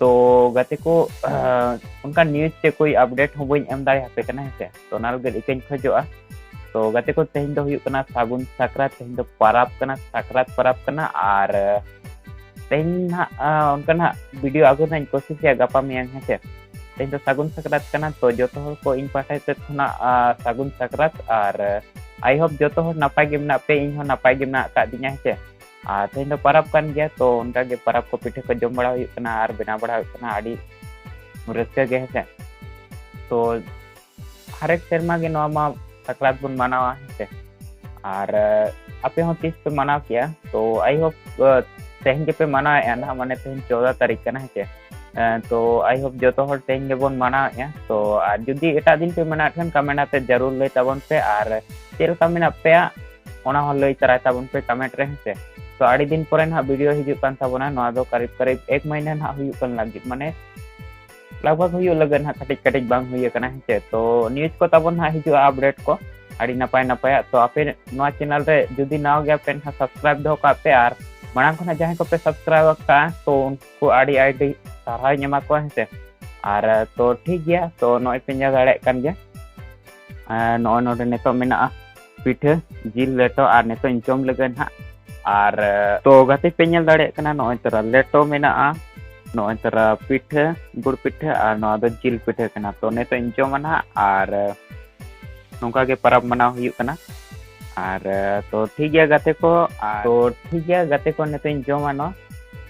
ᱛᱚ ᱜᱟᱛᱮ ᱠᱚ ᱚᱱᱠᱟ ᱱᱤᱭᱩᱡᱽ ᱛᱮ ᱠᱚᱭ ᱟᱯᱰᱮᱴ ᱦᱚᱸ ᱵᱟᱹᱧ ᱮᱢ ᱫᱟᱲᱮᱭᱟᱯᱮ ᱠᱟᱱᱟ ᱦᱮᱸᱥᱮ ᱛᱚ ᱚᱱᱟ ᱞᱟᱹᱜᱤᱫ ᱤᱠᱟᱹᱧ ᱠᱷᱚᱡᱚᱜᱼᱟ ᱛᱚ ᱜᱟᱛᱮ ᱠᱚ ᱛᱮᱦᱮᱧ ᱫᱚ ᱦᱩᱭᱩᱜ ᱠᱟᱱᱟ ᱥᱟᱹᱜᱩᱱ ᱥᱟᱠᱨᱟᱛ ᱛᱮᱦᱮᱧ ᱫᱚ ᱯᱟᱨᱟᱵᱽ ᱠᱟᱱᱟ ᱥᱟᱠᱨᱟᱛ ᱯᱟᱨᱟᱵᱽ ᱠᱟᱱᱟ ᱟᱨ ᱛᱮᱦᱮᱧ ᱦᱟᱸᱜ ᱚᱱᱠᱟ ᱦᱟᱸᱜ ᱵᱷᱤᱰᱤᱭᱳ ᱟᱹᱜᱩ ᱨᱮᱱᱟᱜ ᱤᱧ ᱠᱳᱥᱤᱥᱮᱜᱼᱟ ᱜᱟᱯᱟ ᱢᱮᱭᱟᱝ ᱦᱮᱸᱥᱮ ᱛᱮᱦᱮᱧ ᱫᱚ ᱥᱟᱹᱜᱩᱱ ᱥᱟᱠᱨᱟᱛ ᱠᱟᱱᱟ ᱛᱚ ᱡᱚᱛᱚ ᱦᱚᱲ ᱠᱚ ᱤᱧ ᱯᱟᱦᱴᱟ ᱥᱮᱫ ᱠᱷᱚᱱᱟᱜ ᱥᱟᱹᱜᱩᱱ ᱥᱟᱠᱨᱟᱛ ᱟᱨ ᱟᱭ ᱦᱳᱯ ᱡᱚᱛᱚ ᱦᱚᱲ ᱱᱟᱯᱟᱭ ᱜᱮ ᱢᱮᱱᱟᱜ ᱯᱮ ᱤᱧ ᱦᱚᱸ ᱱᱟᱯᱟᱭ ᱜᱮ ᱢᱮᱱᱟᱜ ᱟᱠᱟᱫ ᱫᱤᱧᱟ ᱦᱮᱸᱥᱮ ᱟᱨ ᱛᱮᱦᱮᱧ ᱫᱚ ᱯᱟᱨᱟᱵᱽ ᱠᱟᱱ ᱜᱮᱭᱟ ᱛᱚ ᱚᱱᱠᱟ ᱜᱮ ᱯᱟᱨᱟᱵᱽ ᱠᱚ ᱯᱤᱴᱷᱟᱹ ᱠᱚ ᱡᱚᱢ ᱵᱟᱲᱟ ᱦᱩᱭᱩᱜ ᱠᱟᱱᱟ ᱟᱨ ᱵᱮᱱᱟᱣ ᱵᱟᱲᱟ ᱦᱩᱭᱩᱜ ᱠᱟᱱᱟ ᱟᱹᱰᱤ ᱨᱟᱹᱥᱠᱟᱹ ᱜᱮ ᱦᱮᱸᱥᱮ ᱛᱚ ᱦᱟᱨᱮᱠ ᱥᱮᱨᱢᱟ ᱜᱮ ᱱᱚᱣᱟ ᱢᱟ ᱥᱟᱠᱨᱟᱛ ᱵᱚᱱ ᱢᱟᱱᱟᱣᱟ ᱦᱮᱸᱥᱮ ᱟᱨ ᱟᱯᱮ ᱦᱚᱸ ᱛᱤᱥ ᱯᱮ ᱢᱟᱱᱟᱣ ᱠᱮᱜᱼᱟ ᱛᱚ ᱟᱭ ᱦᱳᱯ ᱛᱮᱦᱮᱧ ᱜᱮᱯᱮ ᱢᱟᱱᱟᱣᱮᱜᱼᱟ ᱱᱟᱦᱟᱜ ᱢᱟᱱᱮ ᱛᱮᱦᱮᱧ ᱪᱳᱫᱟ ᱛᱟᱹᱨᱤᱠᱷ ᱠᱟᱱᱟ ᱦᱮᱸᱥᱮ ᱛᱚ ᱟᱭ ᱦᱳᱯ ᱡᱚᱛᱚ ᱦᱚᱲ ᱛᱮᱦᱮᱧ ᱜᱮᱵᱚᱱ ᱢᱟᱱᱟᱣᱮᱜᱼᱟ ᱛᱚ ᱟᱨ ᱡᱩᱫᱤ ᱮᱴᱟᱜ ᱫᱤᱱ ᱯᱮ ᱢᱟᱱᱟᱣᱮᱫ ᱠᱷᱟᱱ ᱠᱟᱢᱮᱱᱴ ᱟᱛᱮ ᱡᱟᱹᱨᱩᱲ ᱞᱟᱹᱭ ᱛᱟᱵᱚᱱ ᱯᱮ ᱟᱨ ᱪᱮᱫ ᱞᱮᱠᱟ ᱢᱮᱱᱟᱜ ᱯᱮᱭᱟ ᱚᱱᱟ ᱦᱚᱸ ᱞᱟᱹᱭ ᱛᱟᱨᱟᱭ ᱛᱟᱵᱚᱱ ᱯᱮ ᱠᱟᱢᱮᱱᱴ ᱨᱮ ᱦᱮᱸᱥᱮ ᱛᱚ ᱟᱹᱰᱤ ᱫᱤᱱ ᱯᱚᱨᱮ ᱱᱟᱦᱟᱜ ᱵᱷᱤᱰᱤᱭᱳ ᱦᱤᱡᱩᱜ ᱠᱟᱱ ᱛᱟᱵᱚᱱᱟ ᱱᱚᱣᱟ ᱫᱚ ᱠᱟᱨᱤᱵ ᱠᱟᱨᱤᱵ ᱮᱠ ᱢᱟᱹᱦᱤᱱᱟᱹ ᱱᱟᱦᱟᱜ ᱦᱩᱭᱩᱜ ᱠᱟᱱ ᱞᱟᱹᱜᱤᱫ ᱢᱟᱱᱮ ᱞᱟᱜᱽᱵᱷᱟᱜᱽ ᱦᱩᱭᱩᱜ ᱞᱟᱹᱜᱤᱫ ᱱᱟᱦᱟᱜ ᱠᱟᱹᱴᱤᱡ ᱠᱟᱹᱴᱤᱡ ᱵᱟᱝ ᱦᱩᱭ ᱟᱠᱟᱱᱟ ᱦᱮᱸᱥᱮ ᱛᱚ ᱱᱤᱭᱩᱡᱽ ᱠᱚ ᱛᱟᱵᱚᱱ ᱱᱟᱦᱟᱜ ᱦᱤᱡᱩᱜᱼᱟ ᱟᱯᱰᱮᱴ ᱠᱚ ᱟᱹᱰᱤ ᱱᱟᱯᱟᱭ ᱱᱟᱯᱟᱭᱟᱜ ᱛᱚ ᱟᱯᱮ ᱱᱚᱣᱟ ᱪᱮᱱᱮᱞ ᱨᱮ ᱡᱩᱫᱤ ᱱᱟᱣᱟ ᱜᱮᱭᱟ ᱯᱮ ᱱᱟᱦᱟᱜ ᱥᱟᱵᱥᱠᱨᱟᱭᱤᱵ ᱫᱚᱦᱚ ᱠᱟᱜ ᱯᱮ ᱟᱨ ᱢᱟᱲᱟᱝ ᱠᱷᱚᱱᱟᱜ ᱡᱟᱦᱟᱸᱭ ᱠᱚᱯᱮ ᱥᱟᱵᱥᱠᱨᱟᱭᱤᱵ ᱟᱠᱟᱫᱼᱟ ᱛᱚ ᱩᱱᱠᱩ ᱟᱹᱰᱤ ᱟᱹᱰᱤ ᱥᱟᱨᱦᱟᱣᱤᱧ ᱮᱢᱟ ᱠᱚᱣᱟ ᱦᱮᱸᱥᱮ ᱟᱨ ᱛᱚ ᱴᱷᱤᱠ ᱜᱮᱭᱟ ᱛᱚ ᱱᱚᱜᱼᱚᱭ ᱯᱮ ᱧᱮᱞ ᱫᱟᱲᱮᱭᱟᱜ ᱠᱟᱱ ᱜᱮᱭᱟ ᱱᱚᱜᱼᱚᱭ ᱱᱚᱰᱮ ᱱᱤᱛᱚᱜ ᱢᱮᱱᱟᱜᱼᱟ ᱯᱤᱴᱷᱟᱹ ᱡᱤᱞ ᱞᱮᱴᱚ ᱟᱨ ᱱᱤᱛᱚᱜ ᱤᱧ ᱡᱚᱢ ᱞᱟᱹᱜᱤᱫ ᱱᱟᱦᱟᱜ ᱟᱨ ᱛᱚ ᱜᱟᱛᱮ ᱯᱮ ᱧᱮᱞ ᱫᱟᱲᱮᱭᱟᱜ ᱠᱟᱱᱟ ᱱᱚᱜᱼᱚᱭ ᱛᱚᱨᱟ ᱞᱮᱴᱚ ᱢᱮᱱᱟᱜᱼᱟ ᱱᱚᱜᱼᱚᱭ ᱛᱚᱨᱟ ᱯᱤᱴᱷᱟᱹ ᱜᱩᱲ ᱯᱤᱴᱷᱟᱹ ᱟᱨ ᱱᱚᱣᱟ ᱫᱚ ᱡᱤᱞ ᱯᱤᱴᱷᱟᱹ ᱠᱟᱱᱟ ᱛᱚ ᱱᱤᱛᱚᱜ ᱤᱧ ᱡᱚᱢᱟ ᱱᱟᱦᱟᱜ ᱟᱨ ᱱᱚᱝᱠᱟ ᱜᱮ ᱯᱟᱨᱟᱵᱽ ᱢᱟᱱᱟᱣ ᱦᱩᱭᱩᱜ ᱠᱟᱱᱟ ᱟᱨ ᱛᱚ ᱴᱷᱤᱠ ᱜᱮᱭᱟ ᱜᱟᱛᱮ ᱠᱚ ᱛᱚ ᱴᱷᱤᱠ ᱜᱮᱭᱟ ᱜᱟᱛᱮ ᱠᱚ ᱱᱤᱛᱚᱜ ᱤᱧ ᱡᱚᱢᱟ ᱱᱚᱣᱟ